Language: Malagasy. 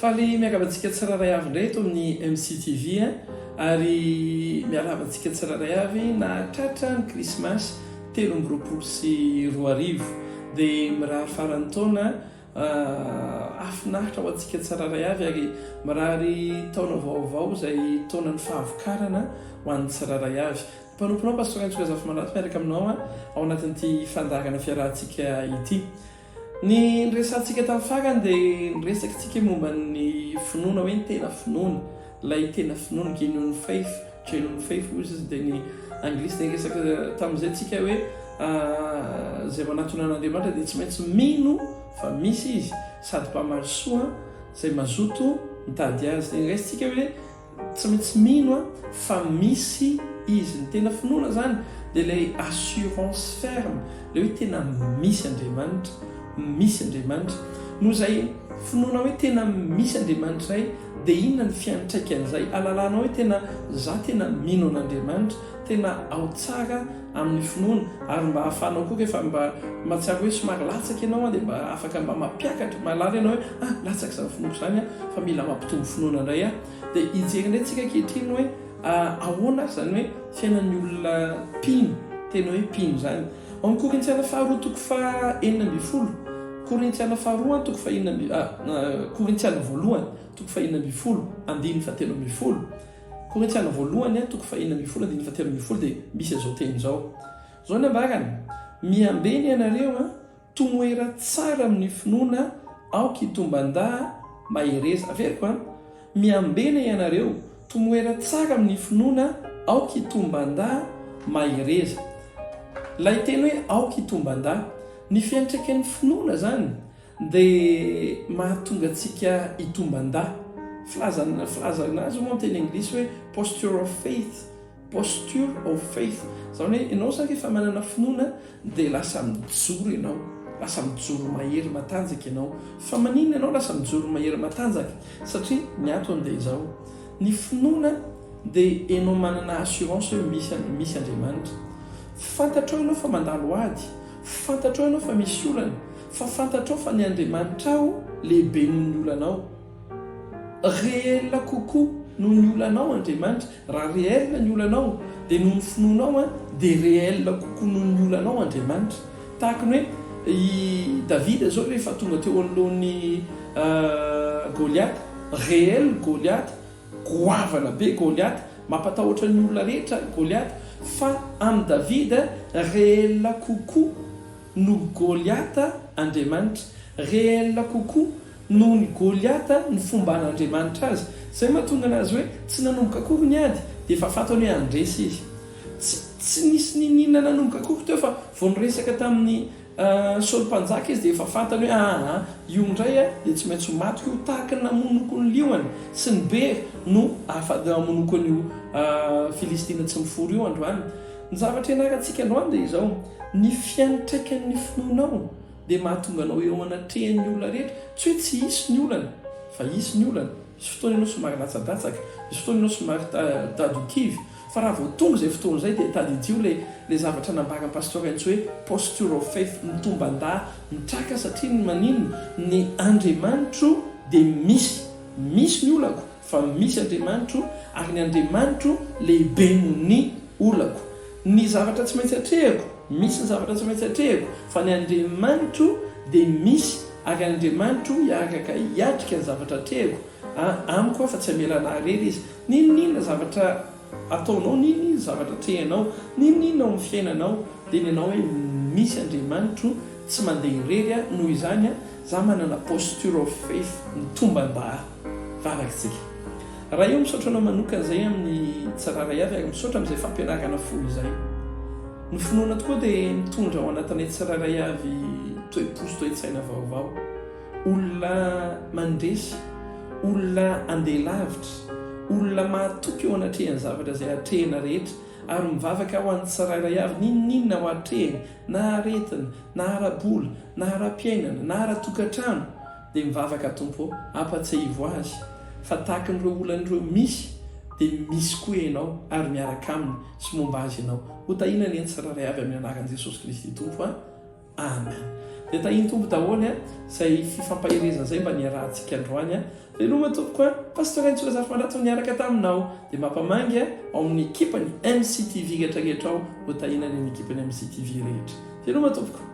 Faly miangavy antsika tsirairay avy indray eto amin'ny MCTV ary miarahaba antsika tsirairay avy nahatratra ny krismasy telo amby roapolo sy roa arivo dia mirary faran'ny taona ah, afinahitra ho antsika tsirairay avy ary mirary taona vaovao izay taonan'ny fahavokarana ho an'ny tsirairay avy Mpanompo anao Pasteur Entso Razafimandrato miaraka aminao ao anatin'ity fandaharana fiarahantsika ity. Ny niresahantsika tamin'ny farany dia niresaka isika momba ny finoana hoe ny tena finoana, ilay tena finoana, genuine faith, genuine faith hoy izy dia ny anglisy dia niresaka tamin'izay isika hoe izay manatona an'Andriamanitra dia tsy maintsy mino fa misy izy sady mpamarisoa izay mazoto mitady azy. Dia niraisintsika hoe Tsy maintsy mino a fa misy izy, ny tena finoana izany dia ilay assurance ferme, ilay hoe tena misy Andriamanitra, misy Andriamanitra. Noho izay finoana hoe tena misy Andriamanitra izay dia inona ny fiantraikan'izay, alalanao hoe tena za tena mino an'Andriamanitra, tena ao tsara, amin'ny finoana ary mba ahafahanao koa rehefa mba mahatsiaro hoe somary latsaka ianao dia mba afaka mba mampiakatra mahalala ianao hoe ah latsaka izany finoako izany an fa mila mampitombo finoana indray aho dia hijery indray tsika ankehitriny hoe ahoana ary izany hoe fiainan'ny olona mpino tena hoe mpino izany ao amin'ny korintiana faharoa toko faha enina ambin'ny folo korintiana faharoa toko faha enina ambin'ny korintiana voalohany toko faha enina ambin'ny folo andininy fahatelo ambin'ny folo Korintiana Voalohany, toko fahenina ambin'ny folo andininy fahatelo ambin'ny folo dia misy an'izao teny izao. Izao ny ambarany, Miambe ny anareo, tomoera tsara amin'ny finoana aoka hitomban-da mahereza. Averiko an! Miambe ny anareo, tomoera tsara amin'ny finoana aoka hitomban-da mahereza. Ilay teny hoe aoka hitomban-da, ny fiantraikan'ny finoana izany. Dia mahatonga antsika hitomban-dahy. Filazana, filazana azy moa ny teny anglisy hoe posture of faith, posture of faith. Izany hoe ianao sa rehefa manana finoana dia lasa mijoro ianao, lasa mijoro mahery matanjaka ianao. Fa maninona ianao lasa mijoro mahery matanjaka? Satria ny antony dia izao, ny finoana dia ianao manana assurance hoe misy an, misy Andriamanitra. Fantatrao ianao fa mandalo ady, fantatrao ianao fa misy olana, Fa fantatrao fa ny Andriamanitrao lehibe noho ny olanao. Réel kokoa noho ny olanao Andriamanitra. Raha réel ny olanao, dia noho ny finoanao dia réel kokoa noho ny olanao Andriamanitra. Tahaka ny hoe i Davida izao rehefa tonga teo anoloan'i Goliata, réel Goliata, goavana be Goliata, mampatahotra ny olona rehetra Goliata, fa amin'i Davida réel kokoa noho Goliata Andriamanitra, réel kokoa noho ny Goliata ny fomban'Andriamanitra azy, izay no mahatonga anazy hoe tsy nanomboka akory ny ady dia efa fantany hoe handresy izy. Tsy tsy nisy niniana nanomboka akory teo fa vao niresaka tamin'i Saoly mpanjaka izy dia efa fantany hoe aa io indray a dia tsy maintsy ho maty koa tahaka ny namonoko ny liona sy ny bery no afa-damonoko an'io Filistina tsy mifory io androany Ny zavatra ianarantsika androany dia izao, ny fiantraikan'ny finoanao dia mahatonga anao eo anatrehan'ny olona rehetra, tsy hoe tsy hisy ny olana fa hisy ny olana, misy fotoana ianao somary latsadratsaka, misy fotoana ianao somary tado-kivy, fa raha vao tonga izay fotoana izay dia tadidio ilay ilay zavatra nambaran'i Pasteur Entso hoe posture of faith, mitomban-dà, mitraka satria ny maninona, ny Andriamanitro dia misy, misy ny olako, Fa misy Andriamanitro, ary ny Andriamanitro lehibe noho ny olako. Ny zavatra tsy maintsy atrehiko, misy ny zavatra tsy maintsy atrehiko, fa ny Andriamanitro dia misy, ary Andriamanitro hiaraka hiatrika ny zavatra atrehiko amiko, fa tsy hamela anah irery Izy. N'inon'inona zavatra. Ataonao n'in inn zavatra atrehanao, n'inon'inona ao amin'ny fiainanao dia ny anao hoe misy Andriamanitro, tsy mandeha irery aho, noho izany aho, za manana posture of faith, ny tombam-bavak'tsika. Ray o, misaotra anao manokana izay amin'ny tsirara iaby ary misaotra amin'izay fampianarana folo izay. Ny finoana tokoa dia mitondra ao anatinay tsirairay avy toe-po sy toe-tsaina vaovao. olona mandresy, olona andeha lavitra, olona mahatoky eo anatrehan'ny zavatra izay atrehina rehetra, ary mivavaka ho an'ny tsirairay avy n'inon'inona ho atrehiny, na aretina, na ara-bola, na ara-piainana, na ara-tokantrano, dia mivavaka Tompo ô, ampatsiahivo azy fa tahakan'ireo olana ireo misy dia misy koa Ianao ary miaraka aminy sy momba azy Ianao, hotahina anie ny tsirairay avy amin'ny anaran'i Jesosy Kristy Tompo a. Amen de tahin Tompo daholo a zay fifampaherezana zay mba niarahantsika androany a veloma tompoko a Pasteur Entso Razafimandrato niaraka taminao de mapamangy a ao amin'ny ekipany MCTV rehetra rehetra ao ho tahina reny ekipany MCTV rehetra veloma tompoko.